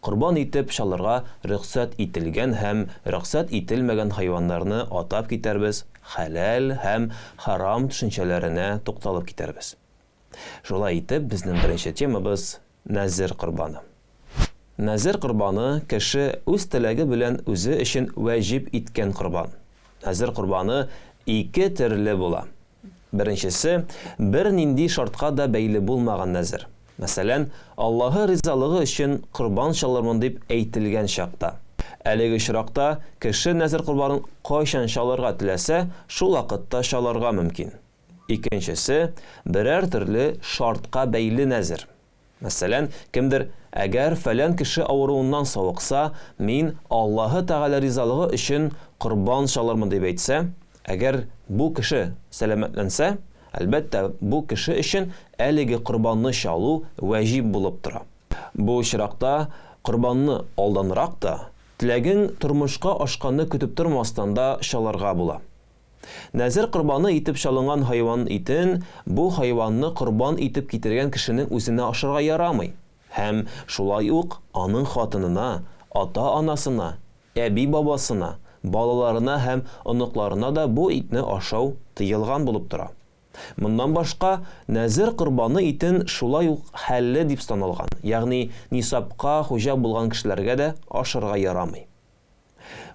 Корбан итеп чалырга рөхсәт ителгән һәм рөхсәт ителмәгән хайваннарны атап китәрбез, хәләл һәм хәрам төшенчәләренә тукталып китәрбез. Шулай итеп, безнең беренче темабыз, нәзер корбаны. Нәзер корбаны, кеше үз теләге белән үзе өчен вәҗип иткән корбан. Нәзер корбаны ике төрле була, Беренчесе, бернинди шартка да бәйле булмаган нәзер. Мәсәлән, Аллаһы ризалыгы өчен корбан чалырмын дип әйтелгән чакта. Әлеге очракта кеше нәзер корбанын кайчан чалырга теләсә, шул вакытта чалырга мөмкин. Икенчесе, берәр төрле шартка бәйле нәзер. Мәсәлән, кемдер, Әгәр фәлән кеше авыруыннан савыкса, мин Аллаһы Тәгалә ризалыгы өчен корбан чалырмын, дип әйтсә, әгәр бу кеше сәламәтләнсә, әлбәттә, бу кеше өчен әлеге корбанны чалу вәҗиб булып тора. Бу очракта корбанны алданрак та, теләгең тормышка ашканны көтеп тормастан да чалырга була. Нәзер корбаны итеп чалынган хайван итен бу хайванны корбан итеп китергән кешенең үзенә ашарга ярамый һәм шулай ук аның хатынына, ата-анасына, әби-бабасына, балаларына һәм оныкларына да бу итне ашау тыелган булып тора. Моннан башка, нәзер корбаны итен шулай ук хәлле дип саналган, ягъни нисабка хуҗа булган кешеләргә дә ашарга ярамый.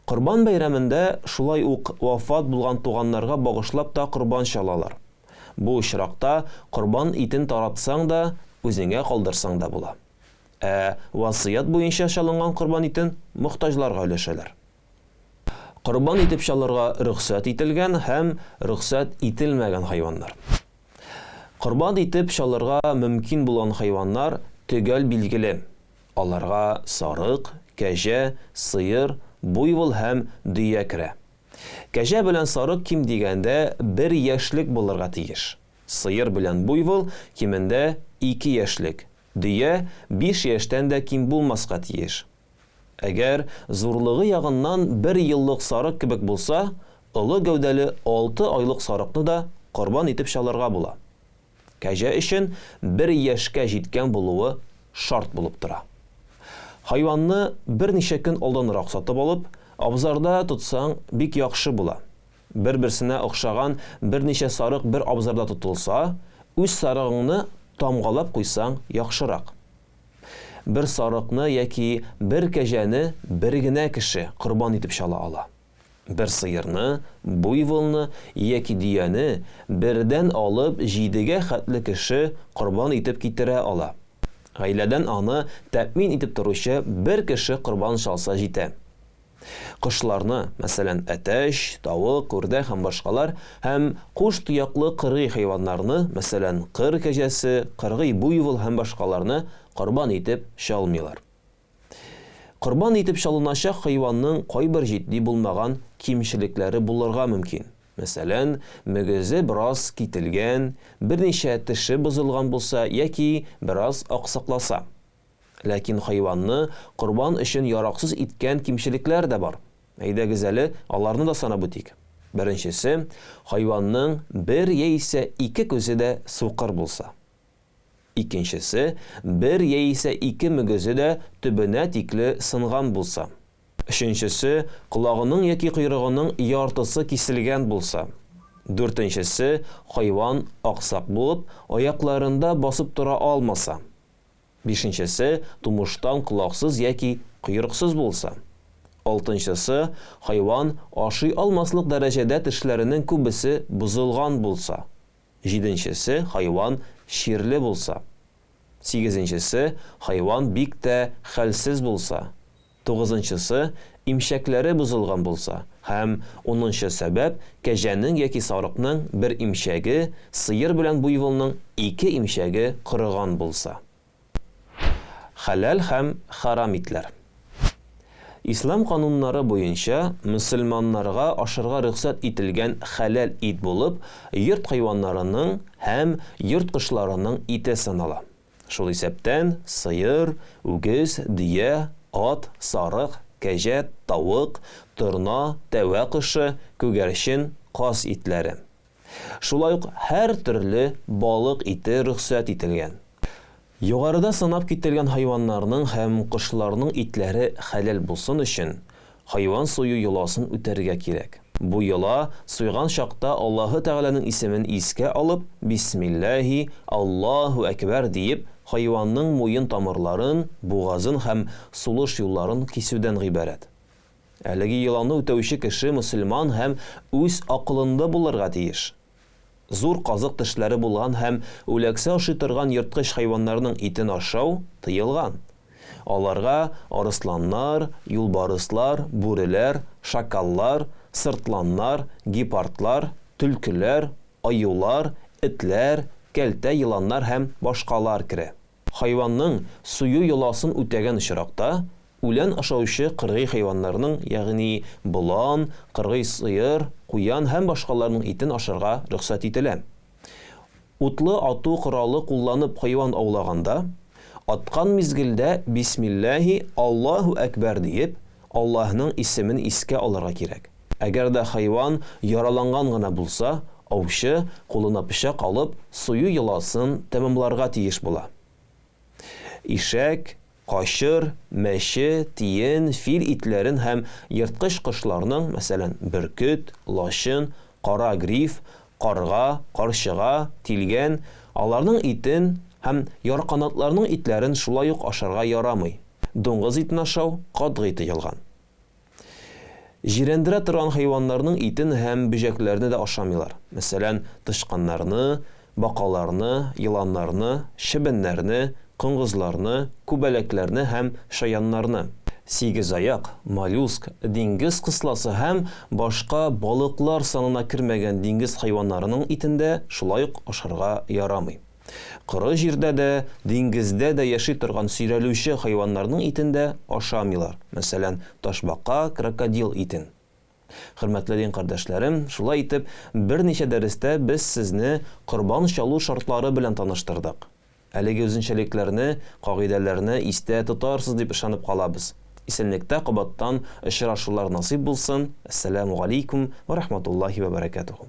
Корбан бәйрәмендә шулай ук вафат булган туганнарга багышлап та корбан чалалар. Бу очракта корбан итен таратсаң да, үзеңә калдырсаң да була. Ә васыять буенча чалынган корбан итен мохтаҗларга өләшәләр. Корбан итеп чалырга рөхсәт ителгән һәм рөхсәт ителмәгән хайваннар. Корбан итеп чалырга мөмкин булган хайваннар төгәл билгеле. Аларга сарык, кәҗә, сыер, буйвол һәм дөя керә. Кәҗә белән сарык ким дигәндә бер яшьлек булырга тиеш. Сыер белән буйвол, кимендә, ике яшьлек, дөя биш яшьтән дә ким булмаска тиеш. Әгәр зурлыгы ягыннан бер еллык сарык кебек булса, олы гәүдәле алты айлык сарыкны да корбан итеп чалырга була. Кәҗә өчен бер яшькә җиткән булуы шарт булып тора. Хайванны берничә көн алданрак сатып алып, абзарда тотсаң, бик яхшы була. Бер-берсенә охшаган берничә сарык бер абзарда тотылса, үз сарыгыңны тамгалап куйсаң яхшырак. Бер сарыкны яки бер кәҗәне бер генә кеше корбан итеп чала ала. Бер сыерны, буйволны яки дөяне бердән алып җидегә хәтле кеше корбан итеп китерә ала. Гаиләдән аны тәэмин итеп торучы бер кеше корбан чалса җитә. Кошларны, мәсәлән, әтәч, тавык, үрдәк һәм башкалар, һәм куш тояклы кыргый хайваннарны, мәсәлән, кыр кәҗәсе, кыргый буйвол һәм башкаларны корбан итеп чалмыйлар. Корбан итеп чалыначак хайванның кайбер җитди булмаган кимчелекләре булырга мөмкин. Мәсәлән, мөгезе бераз кителгән, берничә теше бозылган булса яки бераз аксакласа. Ләкин хайванны корбан өчен яраксыз иткән кимчелекләр дә бар. Әйдәгез әле аларны да санап үтик. Беренчесе, хайванның бер яисә ике күзе дә сукыр булса. Икенчесе, бер яисә ике мөгезе дә төбенә тикле сынган булса. Өченчесе, колагының яки койрыгының яртысы киселгән булса. Дүртенчесе, хайван аксак булып, аякларында басып тора алмаса. Бишенчесе, тумыштан колаксыз яки койрыксыз булса. Алтынчысы, хайван ашый алмаслык дәрәҗәдә тешләренең күбесе бозылган булса. Җиденчесе, хайван чирле булса. Сигезенчесе, хайван бик тә хәлсез булса. Тугызынчысы, имчәкләре бозылган булса. Һәм унынчы сәбәп, кәҗәнең яки сарыкның бер имчәге, сыер белән буйволның ике имчәге корыган булса. Хәләл һәм хәрам итләр. Ислам кануннары буенча мөселманнарга ашарга рөхсәт ителгән хәләл ит булып йорт хайваннарының һәм йорт кошларының ите санала. Шул исәптән сыер, үгез, дөя, ат, сарык, кәҗә, тавык, торна, тәвә кошы, күгәрчен, каз итләре. Шулай ук һәртөрле балык ите рөхсәт ителгән. Югарыда санап кителгән хайваннарның һәм кошларның итләре хәләл булсын өчен, хайван сою йоласын үтәргә кирәк. Бу йола суйган чакта Аллаһы Тәгаләнең исемен искә алып, бисмиллаһи, Аллаһу әкбәр диеп, хайванның муен тамырларын, бугазын һәм сулыш юлларын кисүдән гыйбарәт. Әлеге йоланы үтәүче кеше мөселман һәм үз акылында булырга тиеш. Зур казык тешләре булган һәм үләксә ашый торган ерткыч хайваннарның итен ашау тыелган. Аларга арысланнар, юлбарыслар, бүреләр, шакаллар, сыртланнар, гепардлар, төлкеләр, аюлар, этләр, кәлтә еланнар һәм башкалар керә. Хайванның сую йоласын үтәгән очракта, үлән ашаучы кыргый хайваннарның, ягъни болан, кыргый сыер, куян һәм башкаларның итен ашарга рөхсәт ителә. Утлы ату коралы кулланып хайван аулаганда, аткан мизгелдә бисмилләһи, Аллаһу әкбәр диеп, Аллаһның исемен искә алырга кирәк. Әгәр дә хайван яраланган гына булса, аучы, кулына пычак алып, сую йоласын тәмамларга тиеш була. Ишәк, качыр, мәче, тиен, фил итләрен һәм ерткыч кошларның, мәсәлән, бөркет, лачын, кара гриф, Карга, карчыга, тилгән, аларның итен һәм ярканатларның итләрен шулай ук ашарга ярамый. Дуңгыз итен ашау катгый тыелган. Җирәндерә торган хайваннарның итен һәм бөҗәкләрне дә ашамыйлар, мәсәлән, тычканнарны, бакаларны, еланнарны, чебеннәрне, коңгызларны, күбәләкләрне һәм чаяннарны, сигезаяк, моллюск, диңгез кысласы һәм башка балыклар санына кермәгән диңгез хайваннарының итен дә шулай ук ашарга ярамый. Коры җирдә дә, диңгездә дә яши торган сөйрәлүче хайваннарның итен дә ашамыйлар, мәсәлән, ташбака, крокодил итен. Хөрмәтле дин кардәшләрем, шулай итеп, берничә дәрестә без сезне корбан чалу шартлары белән таныштырдык. Әлеге үзенчәлекләрне, кагыйдәләрне истә тотарсыз дип ышанып калабыз. Исәнлектә кабаттан очрашулар насыйп булсын, Әссәләмү галәйкүм вә рахматуллаһи вә бәрәкәтүһү.